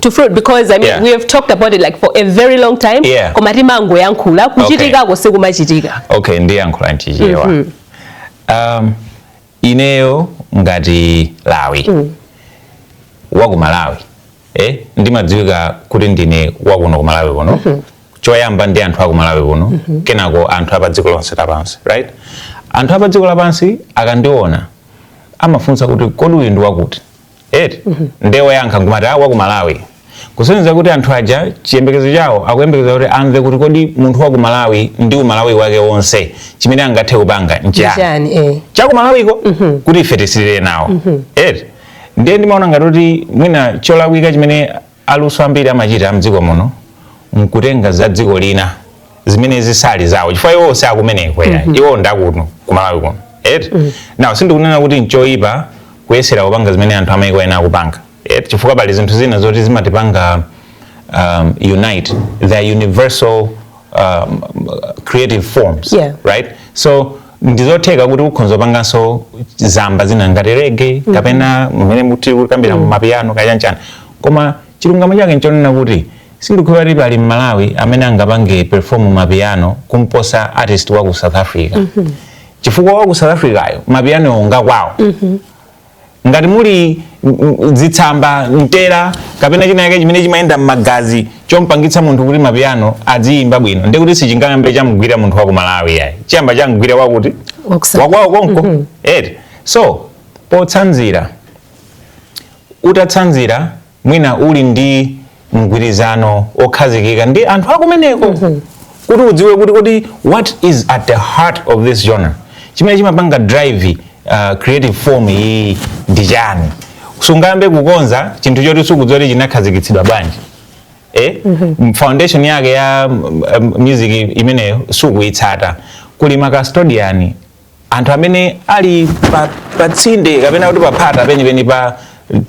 to fruit because I mean yeah. we have talked about it like for a very long time yeah. koma timangoyankhula kuchitika okay. sikumachitika okay ndiyankhula nchichewa mm -hmm. um, ineyo ngati lawi mm. waku malawi eh, ndimadziwika kuti ndine wakuno ku malawi kuno mm -hmm. choyamba ndi anthu aku malawi kuno mm -hmm. kenako anthu apa dziko lonse lapansi right anthu apa dziko lapansi akandiona amafunsa kuti kodi uyu ndi wakuti eti nde oyankha nkumati a waku malawi kusonyeza kuti anthu aja chiyembekezo chawo akuyembekeza kuti amve kuti kodi munthu wa ku malawi ndi umalawi wake wonse chimene angathe kupanga nchiyani Chani eh. chakumalawiko kuti ife tisirire nawo eti ndiye ndimaona ngati kuti mwina cholakwika chimene aluso ambiri amachita mdziko muno nkutenga za dziko lina zimene zisali zawo chifukwa iwo si akumeneko mm -hmm. iwo ndakuno kumalawi kuno eti mm -hmm. now sindikunena kuti nchoyipa kuyesera kupanga zimene anthu amayiko ena akupanga eti chifukwa pali zinthu zina zoti zimatipanga um, unite the universal um, creative forms yeah. right so ndizotheka kuti ukhonza kupanganso zamba zina ngati rege mm-hmm. kapena mmene muti kukambira mm-hmm. mapiano kaya nchani koma chilungamo chake nchonena kuti sindikukhulupira kuti pali mmalawi amene angapange perform mapiano kumposa artist wa ku south africa mm -hmm. chifukwa wa ku south africayo mapiano ngakwawo mm -hmm. ngati muli mm, mm, zitsamba mtera kapena china chake chimene chimayenda m'magazi chompangitsa munthu kuti mapiyano adziyimba bwino nde kuti sichingayambe chamgwira munthu wa ku malawi yayi chiyamba chamgwira wakuti Wakusa- wakwawo konko eti so potsanzira utatsanzira mwina uli ndi mgwirizano okhazikika ndi anthu akumeneko mm -hmm. kuti udziwe kuti kodi what is at the heart of this genre chimene chimapanga drive uh, creative form iyi ndi chani sungambe kukonza chinthu choti sukudziwa kuti chinakhazikitsidwa bwanji eh? mm -hmm. foundation yake ya um, music imeneyo sukuitsata kuli makastodiani anthu amene ali pa, pa tsinde kapena kuti paphata penipeni pa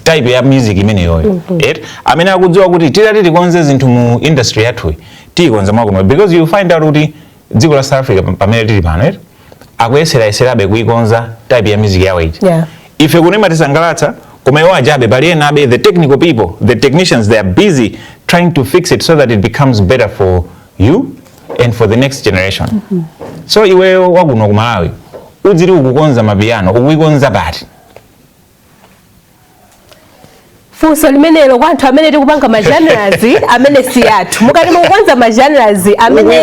type ya music imeneyoyo mm -hmm. right? amene akudziwa kuti titati tikonze zinthu mu industry yathuyi tiyikonza mwakuno because you find out kuti dziko la south africa pamene tili pano right? akuyeseraeserabe kuikonza type ya music yawo ija yeah. ife kuno imatisangalatsa koma iwo ajabe pali ena abe the technical people the technicians they are busy trying to fix it so that it becomes better for you and for the next generation mm -hmm. so iweyo wakuno ku malawi udziri ukukonza amapiano ukuikonza pati funso limenelo kwa anthu amene tikupanga ma genres amene si athu mukati mukukonza ma genres amene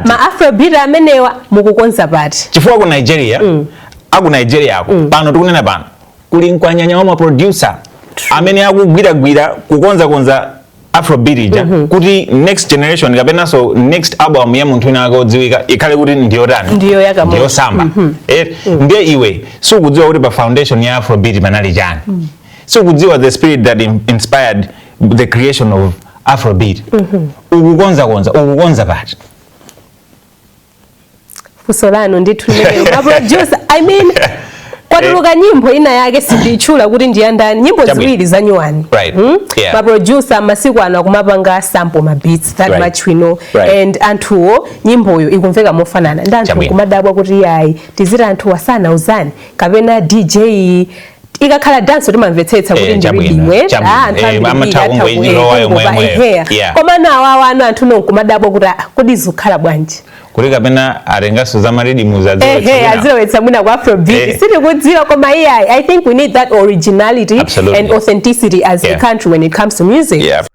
ma afrobeat amenewa mukukonza pati chifukwa ku nigeria mm. aku nigeria ako mm. pano tikunena pano kuli mkwanyanya wa maproducer amene akugwiragwira kukonzakonza afrobeat ija mhm. kuti next generation kapenanso next album ya munthu winawake odziwika ikhale kuti ndiyotani ndiyosamba mhm. eh, mm. ndiye iwe sukudziwa kuti pa foundation ya afrobeat panali chani mm. sukudziwa the spirit that inspired the creation of afrobeat mm -hmm. ukukonzakonza ukukonza pati funso lanu ndithu limenelo maproducer i mean kwatuluka nyimbo ina yake sindiitchula kuti ndi yandani nyimbo ziwiri za nyuwani Right. hmm? Yeah. maproducer masiku ano akumapanga sample ma beats that Right. much we know Right. and anthuwo nyimboyo ikumveka mofanana ndi anthu kumadabwa kuti yayi tiziti anthuwa sanauzani kapena dj ikakhala dance timamvetsetsa kuti eh, ndibwino eh, ah, eh, koma nawo awa anu anthu nonkumadabwa kuti ah, kodi zikukhala bwanji kuti kapena atenganso za ma riddims azilowetsa mwina ku afrobeat sitikudziwa koma iyayi i think we need that originality Absolutely. and authenticity as yeah. a country when it comes to music yeah.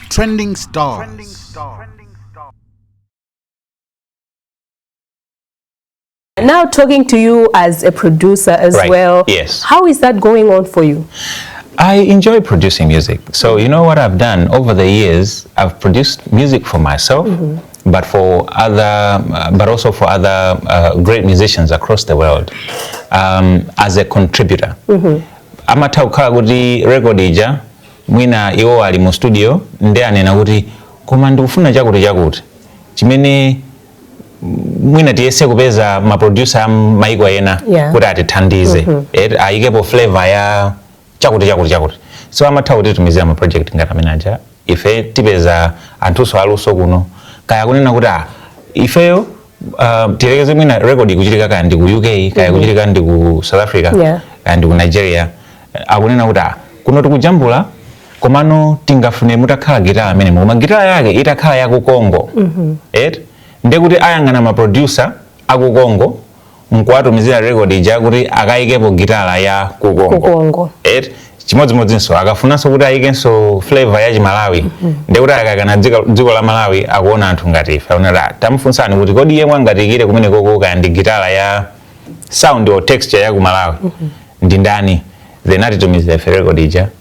Trending stars. Trending stars. Now talking to you as a producer as right. well. Yes. How is that going on for you? I enjoy producing music. So you know what I've done over the years, I've produced music for myself. Mm -hmm but for other, uh, but also for other uh, great musicians across the world um, as a contributor. Mm -hmm. Amatha kukhala kuti record ija mwina iwo ali mu studio ndi anena kuti koma ndikufuna chakuti chakuti chimene mwina tiyese kupeza ma producer a maiko ena Yeah. kuti atithandize Eh, ayikepo flavor ya chakuti chakuti chakuti so amatha kutitumizira ma project ngati amene aja ife tipeze anthunso aluso kuno kaya kunena kuti ah, ifeyo uh, tiyerekeze mwina record ikuchitika kaya ndi ku uk kaya ikuchitika ndi ku south africa Yeah. kaya ndi ku nigeria akunena kuti ah, kuno tikujambula komano tingafune mutakhala gitala amene koma gitala yake itakhala ya ku congo et ndiye kuti ayang'ana maproducer a ku congo nkuwatumizira record ija kuti akayikepo gitala ya ku congo Kukongo. et chimodzimodzinso akafunanso kuti ayikenso flavor ya chimalawi ndiye kuti akayang'ana dziko- dziko la malawi akuona anthu ngati ife akunena kuti "Ah, tamufunsani kuti kodi yemwe angatiikire kumene koko kaya ndi gitala ya sound or texture ya ku malawi ndi ndani then atitumizira ife record ija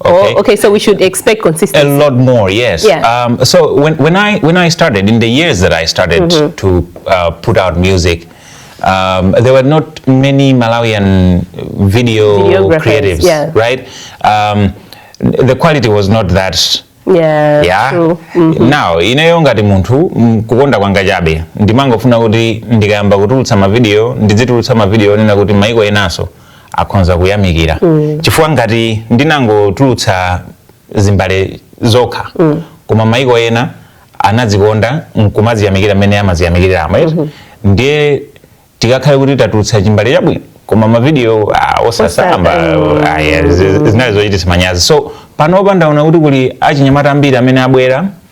Oh, okay. Oh, okay, so we should expect consistency. A lot more, yes. Yeah. Um, so when, when, I, when I started, in the years that I started mm -hmm. to uh, put out music, um, there were not many Malawian video creatives, yeah. right? Um, the quality was not that yeah, yeah. Mm -hmm. Now ineyo ngati munthu mm, kukonda kwanga chabe ndimangofuna kuti ndikayamba kutulutsa mavidiyo ndidzitulutsa mavidiyo onena kuti maiko enanso akhonza kuyamikira mm. chifukwa ngati ndinangotulutsa zimbale zokha mm. koma maiko ena anazikonda nkumaziyamikira mmene amaziyamikira ama mm -hmm. ndiye tikakhale kuti tatulutsa chimbale chabwino koma mavideo uh, ah, osasamba mm. ah, yeah, zinali zochititsa manyazi so panopa ndaona kuti kuli achinyamata ambiri amene abwera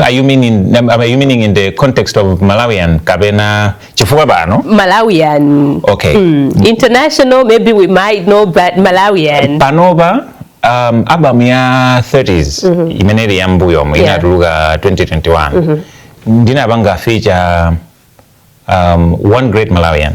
Are you meaning, are you meaning in the context of Malawian kapena chifukwa pano? Malawian. Okay. Mm. International maybe we might know but Malawian. Panopa um, album ya 30s mm -hmm. imene ili ya mbuyomo yeah. inatuluka 2021 mm -hmm. ndinapanga feature um, one great Malawian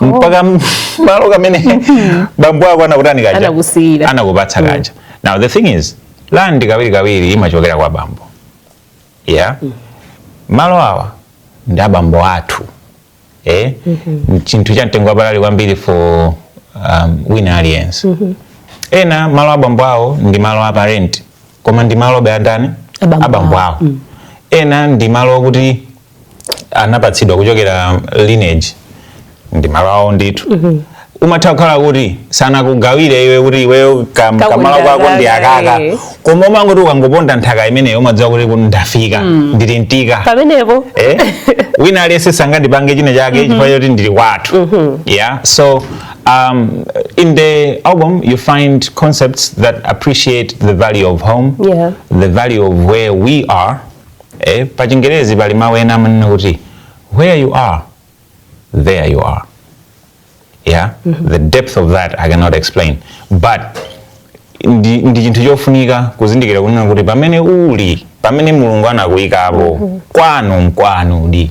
oh. mpaka malo kamene hmm. bambo ako anakutani kaja anakusiyira anakupatsa hmm. kaja now the thing is land kawiri kawiri imachokera kwa bambo yeah mm. malo awa ndi abambo athu eh mm -hmm. chinthu cha mtengo wapatali kwambiri for um, wina aliyense mm -hmm. ena malo a bambo awo ndi malo a parent koma ndi malobe a ndani abambo awo mm. ena ndi malo okuti anapatsidwa kuchokera lineage ndi malo awo ndithu mm -hmm umatha kukhala kuti sanakugawire iwe kuti iweyo kamalo kako ndi akaka eh. koma umangoti ukangoponda nthaka imeneyo umadziwa kuti ndafika mm. ndili mtika pamenepo eh? wina aliyense sangandipange china chake mm -hmm. chifukwa choti ndili kwathu mm -hmm. yeah so Um, in the album, you find concepts that appreciate the value of home, yeah. the value of where we are. Eh, pachingerezi pali mawu ena amanena kuti where you are, there you are. Yeah? Mm -hmm. The depth of that I cannot explain. But ndi, ndi chinthu chofunika kuzindikira kunena kuti pamene uli pamene mulungu anakuyikapo mm -hmm. kwanu nkwanudi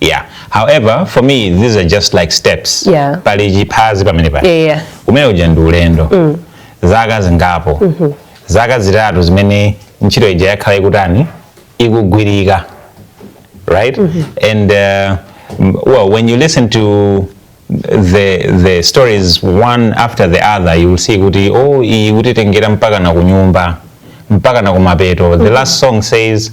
yeah however for me these are just like steps Yeah. pali chiphazi pamene pali Yeah, yeah. umene uja ndi ulendo zaka zingapo zaka zitatu zimene ntchito ija yakhala ikutani ikugwirika right and uh, m- well when you listen to the the stories one after the other you will see kuti oh iyi ikutitengera mpaka na kunyumba mpaka na kumapeto the last song says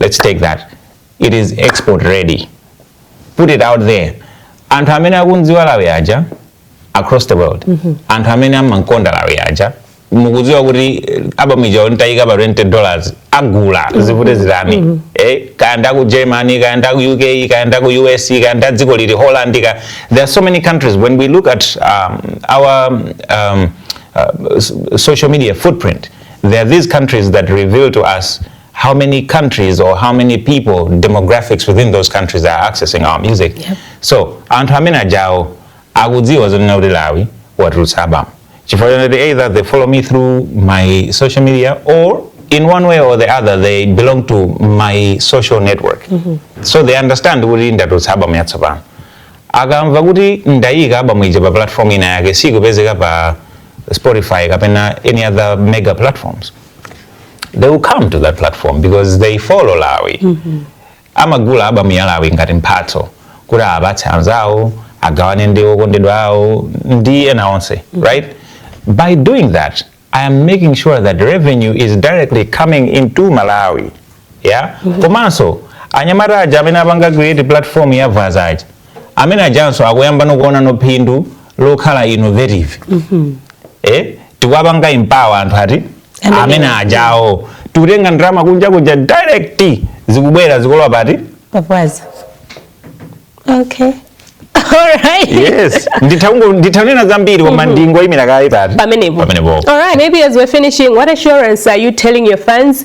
let's take that it is export ready put it out there anthu amene akumdziwa lawi aja across the world mm -hmm. anthu amene amamkonda lawi aja mukudziwa kuti eh, album ija nditayika pa 20 dollars agula mm -hmm. zivute zitani mm -hmm. eh, kaya nda ku germany kaya nda ku uk kaya nda ku us kaya nda dziko liti holland ka there are so many countries when we look at um, our um, uh, social media footprint there are these countries that reveal to us how many countries or how many people demographics within those countries are accessing our music yep. so anthu amene ajawo akudziwa zonena kuti lawi watulutsa album chifukwa choti either they follow me through my social media or in one way or the other they belong to my social network mm -hmm. so they understand kuti ndatulutsa album yatsopano akamva kuti ndayika album ija pa platform ina yake sikupezeka pa spotify kapena any other mega platforms they will come to that platform because they follow lawi mm -hmm. amagula album ya lawi ngati mphatso kuti apatse anzawo agawane ndi okondedwa awo ndi ena onse mm -hmm. right by doing that i am making sure that revenue is directly coming into malawi yeah mm -hmm. komanso anyamata aja amene apanga create platform ya Vaza aja amene ajanso akuyambano kuonano phindu lokhala innovative eh, tikuwapanga empower anthu athu Amene- amene ajawo tikutenga ndalama kunja kuja direct zikubwera zikulowa pati pa Vaza okay alright yes nditha kungo- nditha kunena zambiri koma ndingoyimira kaye pamenepo pamenepo All right, maybe as we're finishing, what assurance are you telling your fans